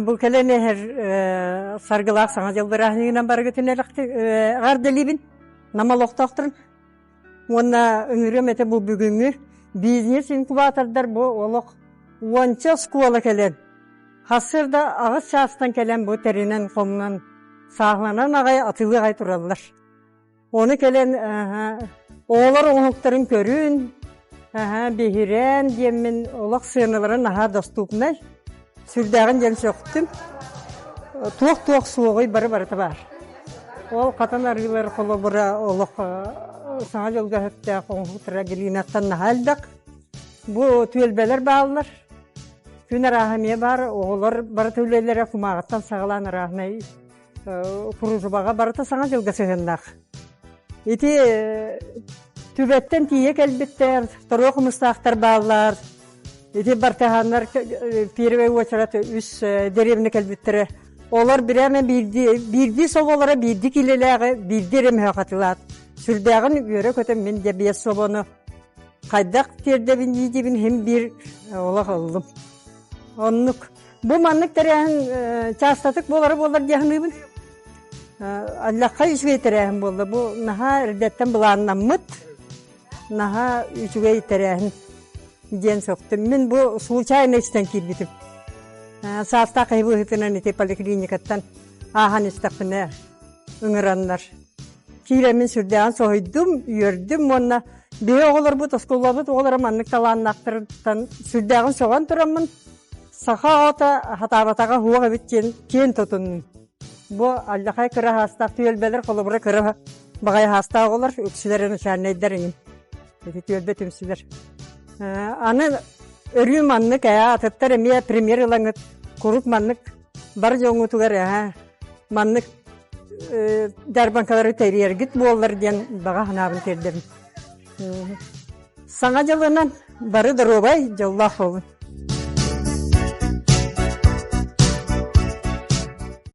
Бу кэлэн эһэр саргылаах саҥа дьыл бырааһыныынан барыгытын элэхтик ардылибин Нам олохтоохторун уонна ыҥырыам этэ бу бүгүҥҥү бизнес-инкубатордар бу олох уонча оскуола кэлэн хасыр да аҕыс чаастан кэлэн бу тэринэн-хомунан сааһыланан аҕай атылы аҕай тураллар Оны кэлэн оҕолор оҥоһуктарын көрүн, биһирэн диэммин олох сыаналары наһаа доступнай. Сүрдээҕин диэн сөхтүм. Туох-туох суоҕуй бары барыта баар. Ол хатан арыылар холобура олох саҥа дьылгаһыттаах оҥоһуктара Галинаттан наһаа элбэх. Бу түөлбэлэр бааллар. Күн арааһа эмиэ баар, оҕолор барыта үлэлэрэ кумааҕыттан саҕалаан арааһынай Пружбаҕа барыта саҥа дьылга сыһыаннаах. Ити түбэттэн тиийэ кэлбиттэр, торуо хомустаахтар бааллар. Ити бартыһааннар первый очередь үс деревня кэлбиттэрэ. Олор биреме биирдии соболара биирди килелээҕи биирди ремөһөхатылаат. Сүрдээҕин үөрө көтөм мин дебиес собону. Хайдах тиэрдэбин иидибин хим биир олох оллум. Оннук Бу маннык тэрээһин частотык буолара буоллар диэхниибин. Аллахха үчүгэй тэрээһин буолла. Бу наһаа эрдэттэн былааннаммыт, наһаа үчүгэй тэрээһин диэн сөхтüm. Мин бу случайно истэн киирбитим. Саастаах киһи быһыытынан ити поликлиникаттан аахан истэхпинэ ыҥыраннар. Киирэмин сүрдээҕин соһуйдум, үөрдүм уонна биһи оҕолорбут, оскуолабыт оҕолоро маннык талааннаахтарыттан сүрдээҕин соҕон тураммын Саха оҕото хатаабатаҕа суох эбит диэн киэн тутуннум. Бу аллахай кыра хаастаах түөлбэлэр холобура кыра баҕайы хаастаах оҕолор үксүлэрэ начальнайдар эҥин. Ити түөлбэ түмсүлэр. Аны өрүү маннык ээ атыттар эмиэ премьер ылаҥыт куруук маннык бар дьоҥҥутугар ээ маннык э, дьарбаҥкалары тэрийэргит буоллар диэн баҕа санаабын тиэрдэбин. Саҥа дьылынан бары доруобай дьоллоох буолун!